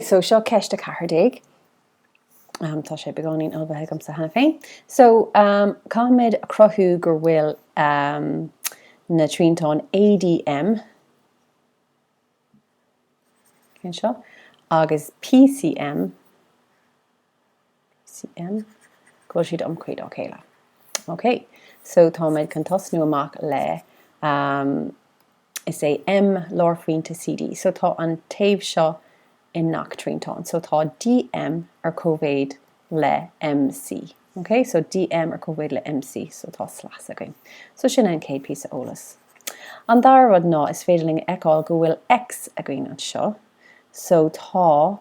So seo ceist a ceathair déag. Tá sé beagáinín ullmhaithe agamsa cheana féin. So caithfimid a chruthú go bhfuil na triantáin ADM, cén seo, agus PCM, go bhfuil siad iomchuí dá chéile. OK. So táimid chun tosnú amach le um, is é M lárphointe CD. So tá an taobh seo i ngach triantán. So tá DM ar cóimhéid le MC. OK, so DM ar cóimhéid le MC, so tá slios againn. So sin an chéad píosa eolas. An dara rud ná is féidir linn fheiceáil go bhfuil X againn anseo. So tá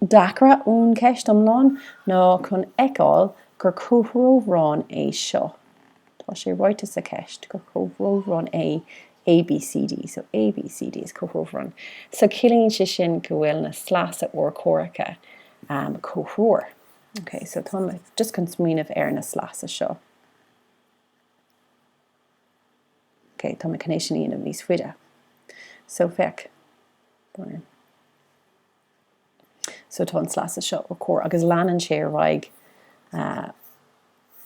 deacra ón gceist iomlán ná chun fheiceáil gur comhthreomharán é seo. Tá sé ráite sa cheist gur comhthreomharán é ABCD, so ABCD is comhthreomharán. So ciallaíonn sé sin go bhfuil na sleasa urchomhaireacha um comhthreomhar. Okay, so tá mé just chun smaoineamh ar na sleasa seo. Okay, tá mé chun é sin a dhéanamh níos faide. So féach. So tá an sleasa seo os comhair agus leanann sé ar aghaidh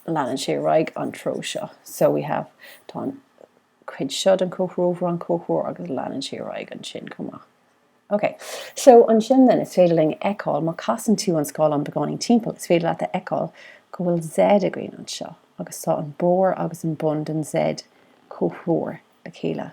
leanann sé ar aghaidh an treo seo. So we have tá an cuid seo den comhthreomharán comhthreomhar agus leanann sé ar aghaidh ansin chomh maith. Ok, so ansin then is féidir linn fheiceáil má casann tú an scáileán beagáinín timpeall is féidir leat a fheiceáil go bhfuil Z againn anseo agus tá an barr agus an bun den Z comhthreomhar le chéile.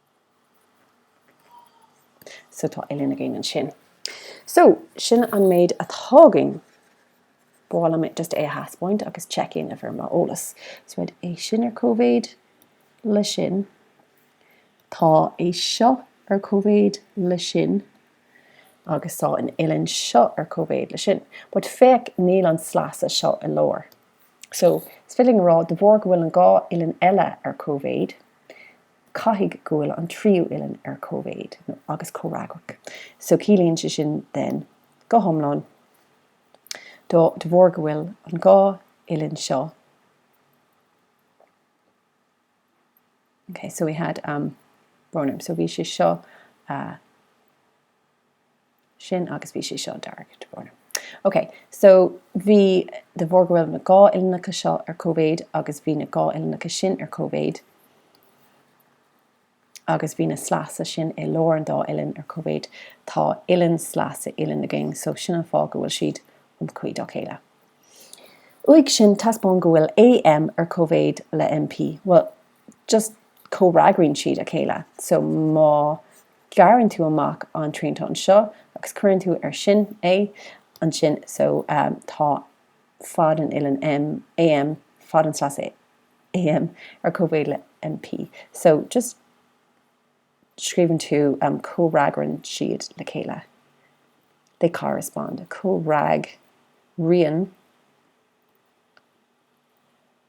So tá uillinn againn ansin. So, sin an méid atá againn. Ba mhaith liom just é a thaispeáint agus check in ar mo eolas. So had, é sin ar cóimhéid le sin. Tá é seo ar cóimhéid le sin. Agus tá an uillinn seo ar cóimhéid le sin. But féach, níl an sleasa seo i lár. So, is féidir linn a rá, de bharr go bhfuil an dhá uillinn eile ar cóimhéid, Caithfidh go bhfuil an tríú uillinn ar cóimhéid agus comhfhreagrach. So ciallaíonn sé sin then go hiomlán de bharr go bhfuil an dhá uillinn seo Okay, so we had um, brón orm, so bhí sé seo uh, sin agus bhí sé seo dearg tá brón orm ok so bhí de bharr go bhfuil na dhá uillinneacha seo ar cóimhéid agus bhí na dhá uillinneacha sin ar cóimhéid agus bhí na sleasa sin i lár an dá uillinn ar cóimhéid tá uillinn sleasa uillinn againn so sin an fáth go bhfuil siad iomchuí dá chéile uaidh sin taispeáin go bhfuil AM ar cóimhéid le MP bhuel just comhfhreagraíonn siad dá chéile so má ghearrann tú amach an triantán seo agus cuireann tú air sin é ansin so tá fad an uillinn M, AM, fad an sleasa AM ar comhéid le MP so just scríobhann tú comhfhreagraíonn siad le chéile they correspond comhfhreagraíonn.